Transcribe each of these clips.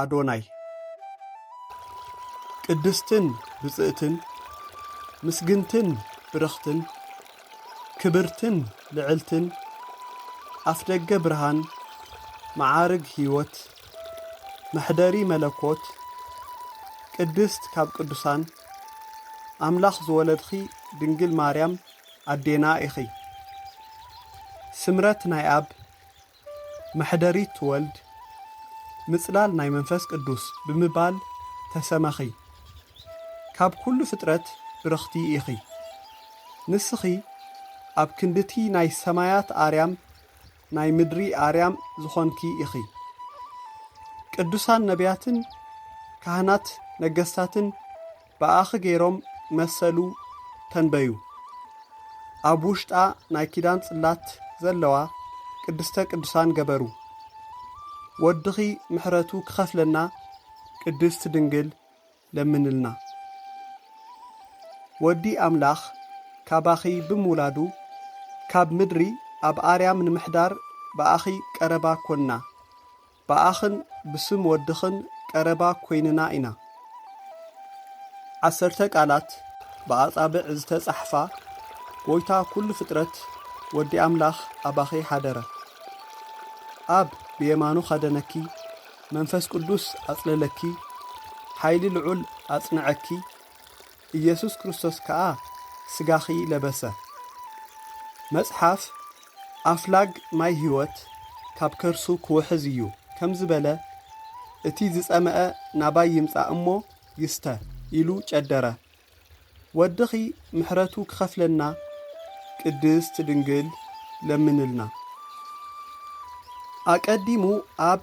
ኣዶናይ። ቅድስትን ብጽእትን ምስግንትን ብርኽትን ክብርትን ልዕልትን ኣፍደገ ብርሃን መዓርግ ሕይወት መሕደሪ መለኮት ቅድስት ካብ ቅዱሳን ኣምላኽ ዝወለድኺ ድንግል ማርያም ኣዴና ኢኺ። ስምረት ናይ ኣብ መሕደሪት ትወልድ ምጽላል ናይ መንፈስ ቅዱስ ብምባል ተሰመኺ። ካብ ኩሉ ፍጥረት ብርኽቲ ኢኺ። ንስኺ ኣብ ክንድቲ ናይ ሰማያት ኣርያም ናይ ምድሪ ኣርያም ዝኾንኪ ኢኺ። ቅዱሳን ነብያትን ካህናት ነገስታትን ብኣኺ ገይሮም መሰሉ ተንበዩ። ኣብ ውሽጣ ናይ ኪዳን ጽላት ዘለዋ ቅድስተ ቅዱሳን ገበሩ። ወድኺ ምሕረቱ ክኸፍለና ቅድስት ድንግል ለምንልና። ወዲ ኣምላኽ ካባኺ ብምውላዱ ካብ ምድሪ ኣብ ኣርያም ንምሕዳር ብኣኺ ቀረባ ኰንና። ብኣኽን ብስም ወድኽን ቀረባ ኮይንና ኢና። ዓሰርተ ቃላት ብኣጻብዕ ዝተጻሕፋ ጎይታ ኩሉ ፍጥረት ወዲ ኣምላኽ ኣባኺ ሓደረ። ኣብ ብየማኑ ኸደነኪ፣ መንፈስ ቅዱስ ኣጽለለኪ፣ ሓይሊ ልዑል ኣጽንዐኪ፣ ኢየሱስ ክርስቶስ ከኣ ሥጋኺ ለበሰ። መጽሓፍ ኣፍላግ ማይ ሕይወት ካብ ከርሱ ክውሕዝ እዩ ከም ዝበለ እቲ ዝጸመኣ ናባይ ይምጻእ እሞ ይስተ ኢሉ ጨደረ። ወድኺ ምሕረቱ ክኸፍለና ቅድስት ድንግል ለምንልና። ኣቀዲሙ ኣብ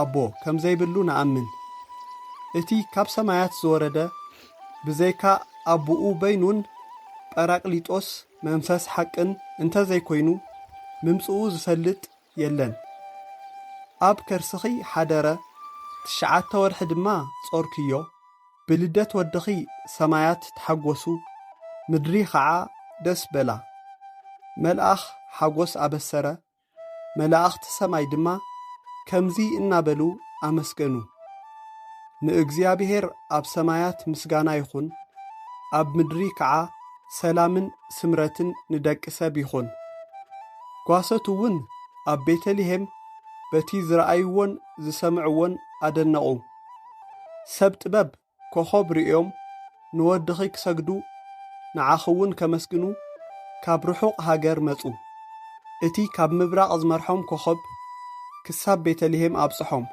ኣቦ ከም ዘይብሉ ንኣምን። እቲ ካብ ሰማያት ዝወረደ ብዘይካ ኣቡኡ በይኑን ጰራቅሊጦስ፣ መንፈስ ሓቅን፣ እንተ ዘይኮይኑ ምምጽኡ ዝፈልጥ የለን። ኣብ ከርስኺ ሓደረ ትሽዓተ ወርሒ ድማ ጾርክዮ፣ ብልደት ወድኺ ሰማያት ተሓጎሱ ምድሪ ኸዓ ደስ በላ። መልኣኽ ሓጎስ ኣበሰረ፣ መላእኽቲ ሰማይ ድማ ከምዚ እናበሉ ኣመስገኑ፣ ንእግዚኣብሄር ኣብ ሰማያት ምስጋና ይኹን፣ ኣብ ምድሪ ከዓ ሰላምን ስምረትን ንደቂ ሰብ ይኹን። ጓሶት'ውን ኣብ ቤተ ልሄም በቲ ዝረኣይዎን ዝሰምዕዎን ኣደነቑ። ሰብ ጥበብ ኮኾብ ርእዮም ንወድኺ ክሰግዱ ንዓኺውን ከመስግኑ ካብ ርሑቕ ሃገር መጹ። እቲ ካብ ምብራቕ ዝመርሖም ኮኾብ ክሳብ ቤተልሄም ኣብጽሖም።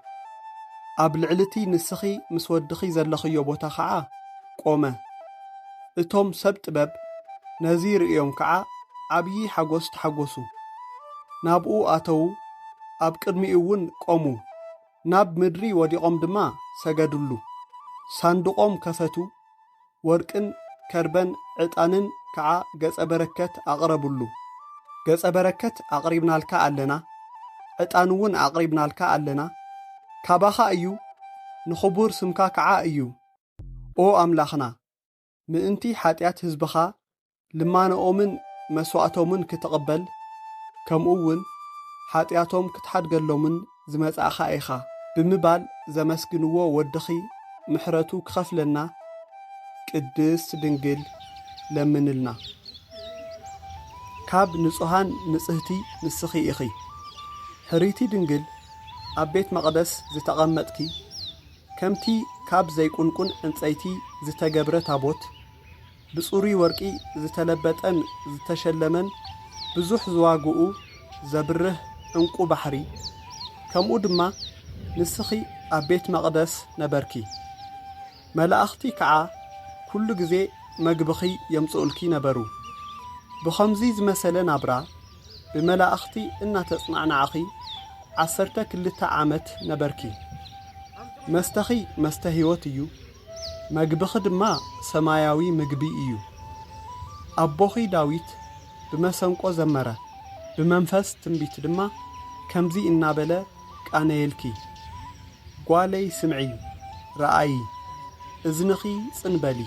ኣብ ልዕሊቲ ንስኺ ምስ ወድኺ ዘለኽዮ ቦታ ኸዓ ቆመ። እቶም ሰብ ጥበብ ነዚ ርእዮም ከዓ ዓብዪ ሓጐስ ተሓጐሱ። ናብኡ ኣተዉ ኣብ ቅድሚኡውን ቆሙ። ናብ ምድሪ ወዲቖም ድማ ሰገዱሉ። ሳንዱቖም ከፈቱ፣ ወርቅን ከርበን ዕጣንን ከዓ ገጸ በረከት ኣቕረቡሉ። ገጸ በረከት ኣቕሪብናልካ ኣለና፣ ዕጣን'ውን ኣቕሪብናልካ ኣለና፣ ካባኻ እዩ፣ ንኽቡር ስምካ ከዓ እዩ፣ ኦ ኣምላኽና! ምእንቲ ሓጢኣት ህዝብኻ ልማነኦምን መስዋእቶምን ክትቕበል ከምኡ እውን ሓጢኣቶም ክትሓድገሎምን ዝመጻእኻ ኢኻ ብምባል ዘመስግንዎ ወድኺ ምሕረቱ ክኸፍለና ቅድስት ድንግል ለምንልና። ካብ ንጹሃን ንጽህቲ ንስኺ ኢኺ ሕርይቲ ድንግል ኣብ ቤት መቕደስ ዝተቐመጥኪ፣ ከምቲ ካብ ዘይቍንቍን ዕንጸይቲ ዝተገብረ ታቦት፣ ብጽሩይ ወርቂ ዝተለበጠን ዝተሸለመን ብዙሕ ዝዋጋኡ ዘብርህ ዕንቍ ባሕሪ፣ ከምኡ ድማ ንስኺ ኣብ ቤት መቕደስ ነበርኪ። መላእኽቲ ከዓ ኵሉ ግዜ መግብኺ የምጽኡልኪ ነበሩ። ብኸምዙይ ዝመሰለ ናብራ፣ ብመላእኽቲ እናተጽናዕናዕኺ ዓሰርተ ክልተ ዓመት ነበርኪ። መስተኺ መስተ ሕይወት እዩ፣ መግብኺ ድማ ሰማያዊ ምግቢ እዩ። ኣቦኺ ዳዊት ብመሰንቆ ዘመረ፣ ብመንፈስ ትንቢት ድማ ከምዚ እናበለ ቃነየልኪ፣ ጓለይ ስምዒ፣ ርኣዪ፣ እዝንኺ ጽን በሊ፣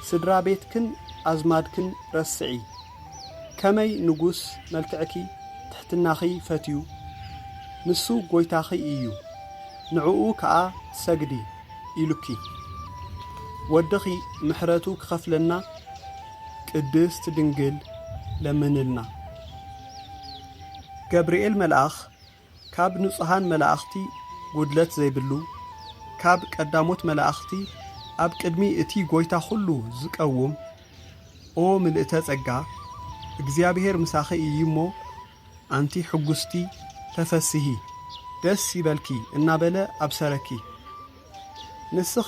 ስድራ ቤትክን ኣዝማድክን ረስዒ፣ ከመይ ንጉስ መልክዕኪ ትሕትናኺ ፈትዩ ንሱ ጎይታኺ ኢዩ ንዕኡ ከኣ ሰግዲ ኢሉኪ ወድኺ ምሕረቱ ክኸፍለና ቅድስት ድንግል ለምንልና። ገብርኤል መልኣኽ ካብ ንጹሃን መላእኽቲ ጉድለት ዘይብሉ፣ ካብ ቀዳሞት መላእኽቲ ኣብ ቅድሚ እቲ ጐይታ ዅሉ ዚቀውም፣ ኦ ምልእተ ጸጋ፣ እግዚኣብሄር ምሳኺ እዩ እሞ፣ ኣንቲ ሕጕስቲ፣ ተፈስሂ፣ ደስ ይበልኪ እናበለ ኣብሰረኪ። ንስኺ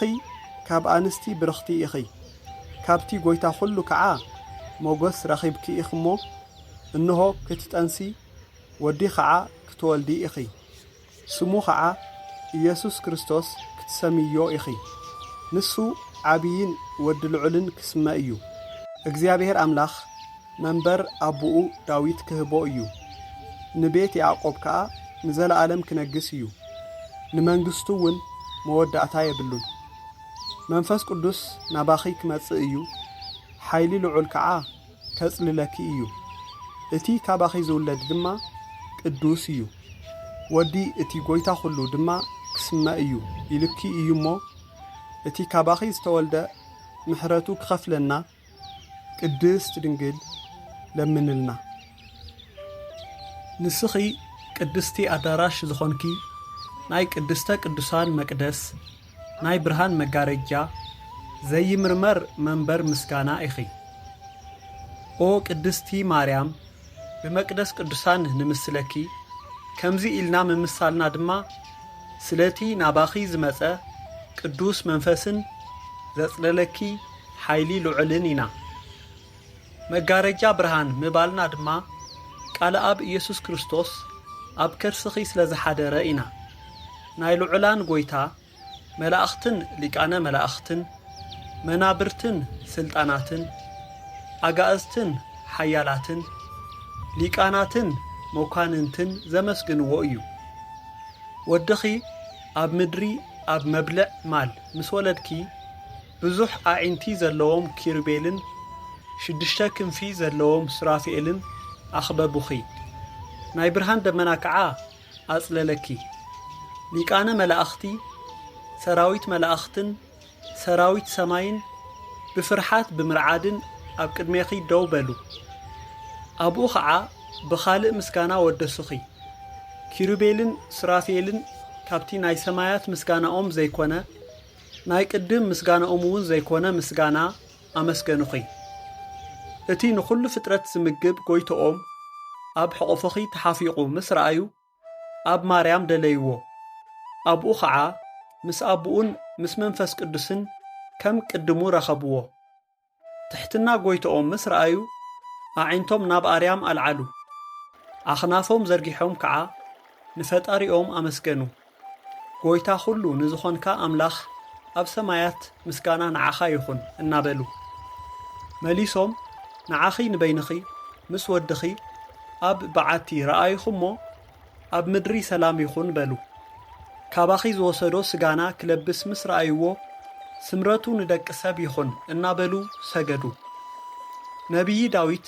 ካብ ኣንስቲ ብርኽቲ ኢኺ፣ ካብቲ ጐይታ ዅሉ ከዓ ሞገስ ረኺብኪ ኢኺ እሞ፣ እንሆ፣ ክትጠንሲ ወዲ ኸዓ ክትወልዲ ኢኺ፣ ስሙ ኸዓ ኢየሱስ ክርስቶስ ክትሰምይዮ ኢኺ፣ ንሱ ዓብይን ወዲ ልዑልን ክስመ እዩ፣ እግዚኣብሔር ኣምላኽ መንበር ኣቦኡ ዳዊት ክህቦ እዩ፣ ንቤት ያዕቆብ ከዓ ንዘለዓለም ክነግስ እዩ፣ ንመንግስቱውን መወዳእታ የብሉን። መንፈስ ቅዱስ ናባኺ ክመፅእ እዩ፣ ሓይሊ ልዑል ከዓ ከጽልለኪ እዩ፣ እቲ ካባኺ ዝውለድ ድማ ቅዱስ እዩ፣ ወዲ እቲ ጐይታ ዅሉ ድማ ኪስመ እዩ ኢሉኪ እዩ እሞ፣ እቲ ካባኺ ዝተወልደ ምሕረቱ ኪኸፍለና፣ ቅድስት ድንግል ለምንልና። ንስኺ ቅድስቲ ኣዳራሽ ዝኾንኪ ናይ ቅድስተ ቅዱሳን መቅደስ፣ ናይ ብርሃን መጋረጃ ዘይምርመር መንበር ምስጋና ኢኺ ኦ ቅድስቲ ማርያም ብመቅደስ ቅዱሳን ንምስለኪ ከምዚ ኢልና ምምሳልና ድማ ስለቲ ናባኺ ዝመጸ ቅዱስ መንፈስን ዘጽለለኪ ሓይሊ ልዑልን ኢና መጋረጃ ብርሃን ምባልና ድማ ቃልኣብ ኢየሱስ ክርስቶስ ኣብ ከርስኺ ስለ ዝሓደረ ኢና። ናይ ልዑላን ጐይታ መላእኽትን ሊቃነ መላእኽትን መናብርትን ሥልጣናትን ኣጋእዝትን ኃያላትን ሊቃናትን መኳንንትን ዘመስግንዎ እዩ። ወድኺ ኣብ ምድሪ ኣብ መብልዕ ማል ምስ ወለድኪ፣ ብዙሕ ኣዒንቲ ዘለዎም ኪሩቤልን ሽዱሽተ ክንፊ ዘለዎም ሱራፊኤልን ኣኽበቡኺ፣ ናይ ብርሃን ደመና ከዓ ኣጽለለኪ፣ ሊቃነ መላእኽቲ፣ ሰራዊት መላእኽትን ሰራዊት ሰማይን ብፍርሓት ብምርዓድን ኣብ ቅድሜኺ ደው በሉ፣ ኣብኡ ኸዓ ብኻልእ ምስጋና ወደሱኺ፣ ኪሩቤልን ሱራፊኤልን ካብቲ ናይ ሰማያት ምስጋናኦም ዘይኮነ፣ ናይ ቅድም ምስጋናኦም እውን ዘይኮነ ምስጋና ኣመስገኑኺ። እቲ ንኹሉ ፍጥረት ዝምግብ ጎይቶኦም ኣብ ሕቑፍኺ ተሓፊቑ ምስ ረኣዩ ኣብ ማርያም ደለይዎ። ኣብኡ ኸዓ ምስ ኣቡኡን ምስ መንፈስ ቅዱስን ከም ቅድሙ ረኸብዎ። ትሕትና ጐይትኦም ምስ ረኣዩ፣ ኣዒንቶም ናብ ኣርያም ኣልዓሉ፣ ኣኽናፎም ዘርጊሖም ከዓ ንፈጣሪኦም ኣመስገኑ። ጐይታ ዅሉ ንዝዀንካ ኣምላኽ ኣብ ሰማያት ምስጋና ንዓኻ ይኹን እናበሉ መሊሶም ንዓኺ ንበይንኺ ምስ ወድኺ ኣብ በዓቲ ረኣይኹ'ሞ ኣብ ምድሪ ሰላም ይኹን በሉ። ካባኺ ዝወሰዶ ስጋና ክለብስ ምስ ረኣይዎ ስምረቱ ንደቂ ሰብ ይኹን እናበሉ ሰገዱ። ነብዪ ዳዊት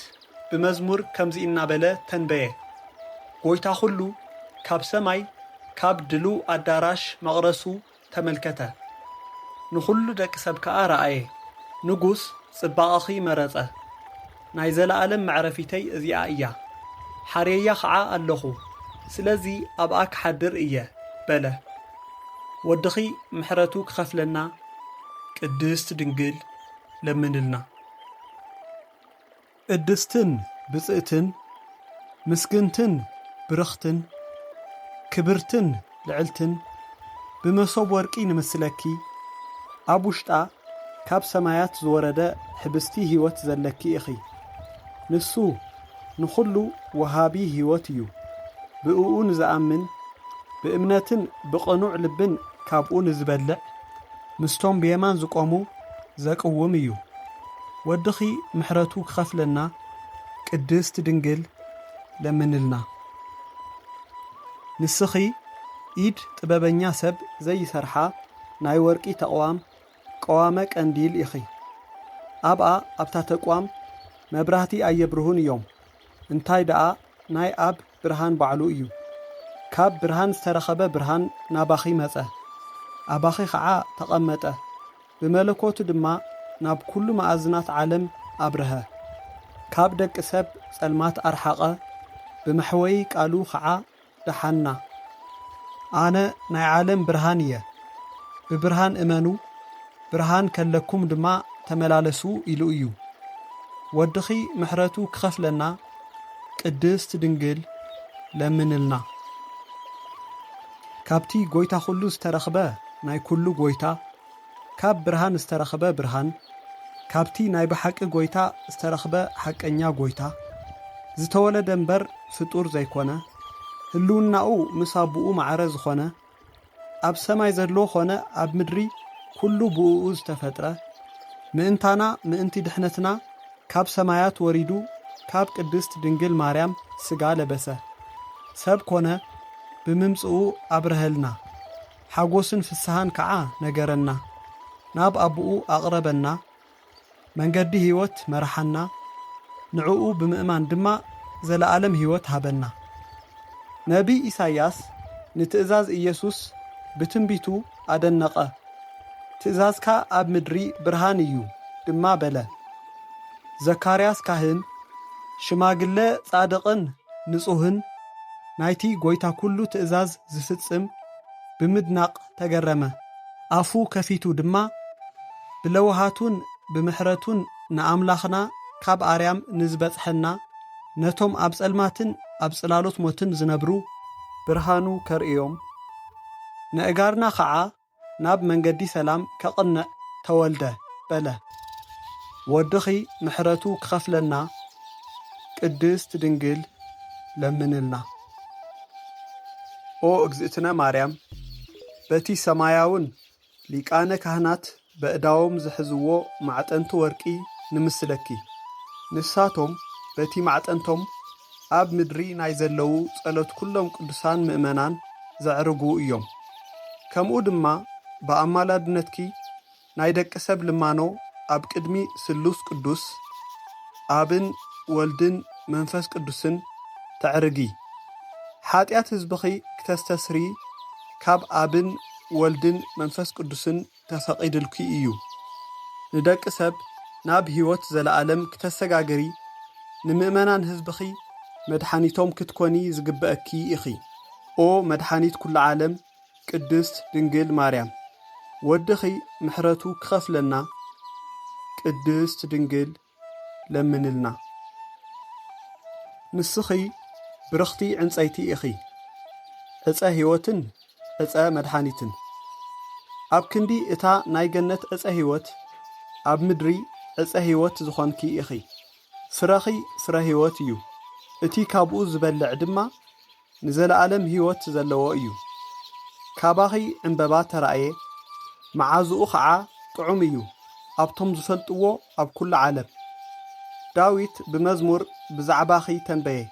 ብመዝሙር ከምዚ እናበለ ተንበየ፣ ጐይታ ዅሉ ካብ ሰማይ ካብ ድሉው ኣዳራሽ መቕረሱ ተመልከተ፣ ንዅሉ ደቂ ሰብ ከኣ ረኣየ፣ ንጉስ ጽባቐኺ መረጸ፣ ናይ ዘለኣለም መዕረፊተይ እዚኣ እያ፣ ሓርየያ ኸዓ ኣለኹ፣ ስለዚ ኣብኣ ክሓድር እየ፣ በለ። ወድኺ ምሕረቱ ክኸፍለና ቅድስት ድንግል ለምንልና። ቅድስትን ብፅእትን ምስግንትን ብርኽትን ክብርትን ልዕልትን ብመሶብ ወርቂ ንምስለኪ ኣብ ውሽጣ ካብ ሰማያት ዝወረደ ሕብስቲ ሕይወት ዘለኪ ኢኺ ንሱ ንኹሉ ወሃቢ ሕይወት እዩ ብእኡ ንዝኣምን ብእምነትን ብቕኑዕ ልብን ካብኡ ንዝበልዕ ምስቶም ብየማን ዝቆሙ ዘቅውም እዩ ወድኺ ምሕረቱ ክኸፍለና ቅድስት ድንግል ለምንልና ንስኺ ኢድ ጥበበኛ ሰብ ዘይሰርሓ ናይ ወርቂ ተቅዋም ቀዋመ ቀንዲል ኢኺ ኣብኣ ኣብታ ተቅዋም መብራህቲ ኣየብርሁን እዮም እንታይ ደኣ ናይ ኣብ ብርሃን ባዕሉ እዩ። ካብ ብርሃን ዝተረኸበ ብርሃን ናባኺ መጸ፣ ኣባኺ ኸዓ ተቐመጠ፣ ብመለኮቱ ድማ ናብ ኩሉ መኣዝናት ዓለም ኣብረሀ። ካብ ደቂ ሰብ ጸልማት ኣርሓቐ፣ ብመሕወዪ ቃሉ ኸዓ ደሓና። ኣነ ናይ ዓለም ብርሃን እየ፣ ብብርሃን እመኑ፣ ብርሃን ከለኩም ድማ ተመላለሱ ኢሉ እዩ ወድኺ ምሕረቱ ክኸፍለና ቅድስት ድንግል ለምንልና ካብቲ ጎይታ ኩሉ ዝተረኽበ ናይ ኩሉ ጎይታ ካብ ብርሃን ዝተረኽበ ብርሃን ካብቲ ናይ ብሓቂ ጎይታ ዝተረኽበ ሓቀኛ ጎይታ ዝተወለደ እምበር ፍጡር ዘይኮነ ህልውናኡ ምስ ኣቦኡ ማዕረ ዝኾነ ኣብ ሰማይ ዘሎ ኾነ ኣብ ምድሪ ኩሉ ብእኡ ዝተፈጥረ ምእንታና ምእንቲ ድሕነትና ካብ ሰማያት ወሪዱ ካብ ቅድስት ድንግል ማርያም ስጋ ለበሰ ሰብ ኮነ ብምምጽኡ ኣብረሀልና ሓጎስን ፍስሃን ከዓ ነገረና ናብ ኣቡኡ ኣቅረበና መንገዲ ህይወት መርሓና፣ ንዕኡ ብምእማን ድማ ዘለኣለም ህይወት ሃበና። ነብይ ኢሳይያስ ንትእዛዝ ኢየሱስ ብትንቢቱ ኣደነቐ፣ ትእዛዝካ ኣብ ምድሪ ብርሃን እዩ ድማ በለ። ዘካርያስ ካህን፣ ሽማግለ ጻድቕን ንጹህን፣ ናይቲ ጐይታ ኵሉ ትእዛዝ ዚፍጽም ብምድናቕ ተገረመ። ኣፉ ከፊቱ ድማ ብለውሃቱን ብምሕረቱን ንኣምላኽና ካብ ኣርያም ንዝበጽሐና ነቶም ኣብ ጸልማትን ኣብ ጽላሎት ሞትን ዝነብሩ፣ ብርሃኑ ከርእዮም፣ ነእጋርና ኸዓ ናብ መንገዲ ሰላም ከቕንዕ ተወልደ በለ። ወድኺ ምሕረቱ ክኸፍለና ቅድስት ድንግል ለምንልና። ኦ እግዝእትነ ማርያም በቲ ሰማያውን ሊቃነ ካህናት በእዳዎም ዝሕዝዎ ማዕጠንቲ ወርቂ ንምስለኪ ንሳቶም በቲ ማዕጠንቶም ኣብ ምድሪ ናይ ዘለዉ ጸሎት ኩሎም ቅዱሳን ምእመናን ዘዕርጉ እዮም ከምኡ ድማ ብኣማላድነትኪ ናይ ደቂ ሰብ ልማኖ ኣብ ቅድሚ ስሉስ ቅዱስ ኣብን ወልድን መንፈስ ቅዱስን ተዕርጊ። ሓጢኣት ህዝብኺ ክተስተስሪ ካብ ኣብን ወልድን መንፈስ ቅዱስን ተፈቒድልኪ እዩ። ንደቂ ሰብ ናብ ሕይወት ዘለዓለም ክተሰጋግሪ ንምእመናን ህዝብኺ መድሓኒቶም ክትኮኒ ዝግበእኪ ኢኺ። ኦ መድሓኒት ኩሉ ዓለም ቅድስት ድንግል ማርያም ወድኺ ምሕረቱ ክኸፍለና ቅድስት ድንግል ለምንልና ንስኺ ብርኽቲ ዕንጸይቲ ኢኺ ዕፀ ሕይወትን ዕፀ መድሓኒትን ኣብ ክንዲ እታ ናይ ገነት ዕፀ ህይወት ኣብ ምድሪ ዕፀ ህይወት ዝኾንኪ ኢኺ ፍረኺ ፍረ ህይወት እዩ እቲ ካብኡ ዝበልዕ ድማ ንዘለኣለም ህይወት ዘለዎ እዩ። ካባኺ ዕምበባ ተራእየ፣ መዓዝኡ ኸዓ ጥዑም እዩ ኣብቶም ዝፈልጥዎ ኣብ ኵሉ ዓለም። ዳዊት ብመዝሙር ብዛዕባኺ ተንበየ፣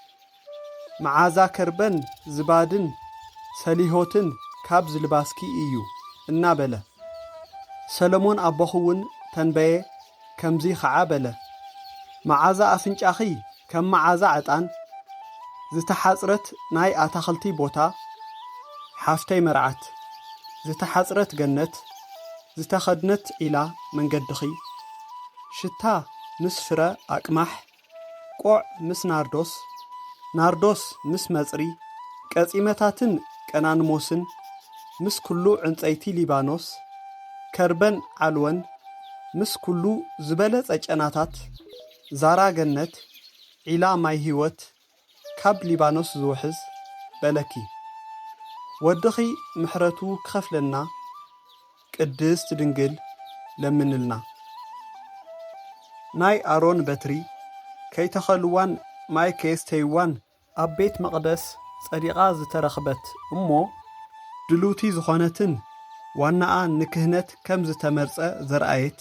መዓዛ ከርበን ዝባድን ሰሊሆትን ካብ ዝልባስኪ እዩ እናበለ። ሰሎሞን ኣቦኺ'ውን ተንበየ፣ ከምዚ ኸዓ በለ፣ መዓዛ ኣፍንጫኺ ከም መዓዛ ዕጣን ዝተሓጽረት ናይ ኣታኽልቲ ቦታ፣ ሓፍተይ መርዓት፣ ዝተሓጽረት ገነት፣ ዝተኸድነት ዒላ መንገድኺ፣ ሽታ ምስ ፍረ ኣቅማሕ ቆዕ ምስ ናርዶስ፣ ናርዶስ ምስ መጽሪ፣ ቀጺመታትን ቀናንሞስን፣ ምስ ኵሉ ዕንጸይቲ ሊባኖስ፣ ከርበን ዓልወን፣ ምስ ኵሉ ዝበለጸ ጨናታት፣ ዛራ ገነት፣ ዒላ ማይ ህይወት፣ ካብ ሊባኖስ ዝውሕዝ በለኪ ወድኺ ምሕረቱ ክኸፍለና ቅድስት ድንግል ለምንልና ናይ ኣሮን በትሪ ከይተኸልዋን ማይ ከየስተይዋን ኣብ ቤት መቅደስ ጸዲቃ ዝተረኽበት እሞ ድልውቲ ዝኾነትን ዋናኣ ንክህነት ከም ዝተመርጸ ዘርኣየት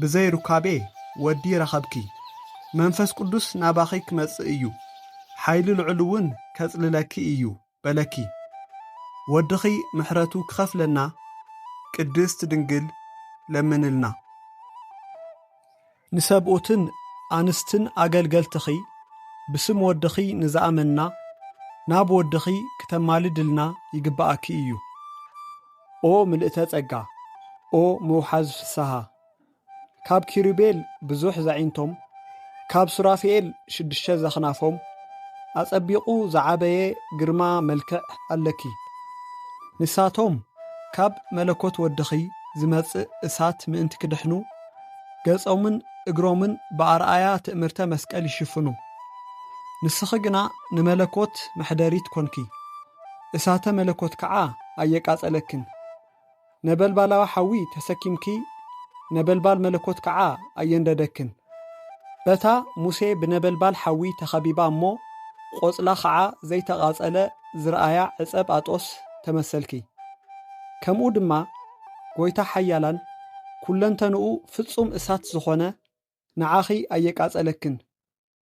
ብዘይ ሩካቤ ወዲ ረኸብኪ። መንፈስ ቅዱስ ናባኺ ክመጽእ እዩ፣ ሓይሊ ልዑል'ውን ከጽልለኪ እዩ በለኪ። ወድኺ ምሕረቱ ክኸፍለና ቅድስት ድንግል ለምንልና። ንሰብኡትን ኣንስትን ኣገልገልትኺ ብስም ወድኺ ንዝኣመንና ናብ ወድኺ ክተማልድልና ይግብኣኪ እዩ። ኦ ምልእተ ጸጋ ኦ ምውሓዝ ፍስሃ ካብ ኪሩቤል ብዙሕ ዛዒንቶም ካብ ሱራፌኤል ሽዱሽተ ዘኽናፎም ኣጸቢቑ ዝዓበየ ግርማ መልክዕ ኣለኪ ንሳቶም ካብ መለኮት ወድኺ ዝመጽእ እሳት ምእንቲ ክድሕኑ ገጾምን እግሮምን ብኣርኣያ ትእምርተ መስቀል ይሽፍኑ ንስኺ ግና ንመለኮት መሕደሪት ኮንኪ እሳተ መለኮት ከዓ ኣየቃፀለክን ነበልባላዊ ሓዊ ተሰኪምኪ ነበልባል መለኮት ከዓ ኣየንደደክን በታ ሙሴ ብነበልባል ሓዊ ተኸቢባ እሞ ቖፅላ ኸዓ ዘይተቓፀለ ዝረኣያ ዕፀብ ኣጦስ ተመሰልኪ ከምኡ ድማ ጎይታ ሓያላን ኩለንተንኡ ፍፁም እሳት ዝኾነ ንዓኺ ኣየቃፀለክን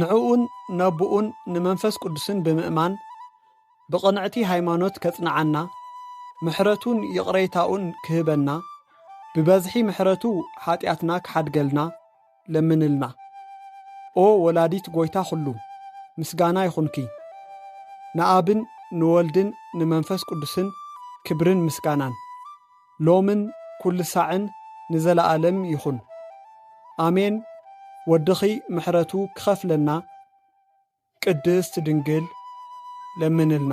ንዕኡን ነቦኡን ንመንፈስ ቅዱስን ብምእማን ብቕንዕቲ ሃይማኖት ከጽንዓና ምሕረቱን ይቕሬታኡን ክህበና ብበዝሒ ምሕረቱ ኃጢኣትና ክሓድገልና ለምንልና። ኦ ወላዲት ጐይታ ዅሉ፣ ምስጋና ይኹንኪ። ንኣብን ንወልድን ንመንፈስ ቅዱስን ክብርን ምስጋናን። ሎምን ኩልሳዕን ንዘላኣለም ይኩን ኣሜን ወድኪ ምሕረቱ ክከፍለና ቅድስት ድንግል ለምንልና።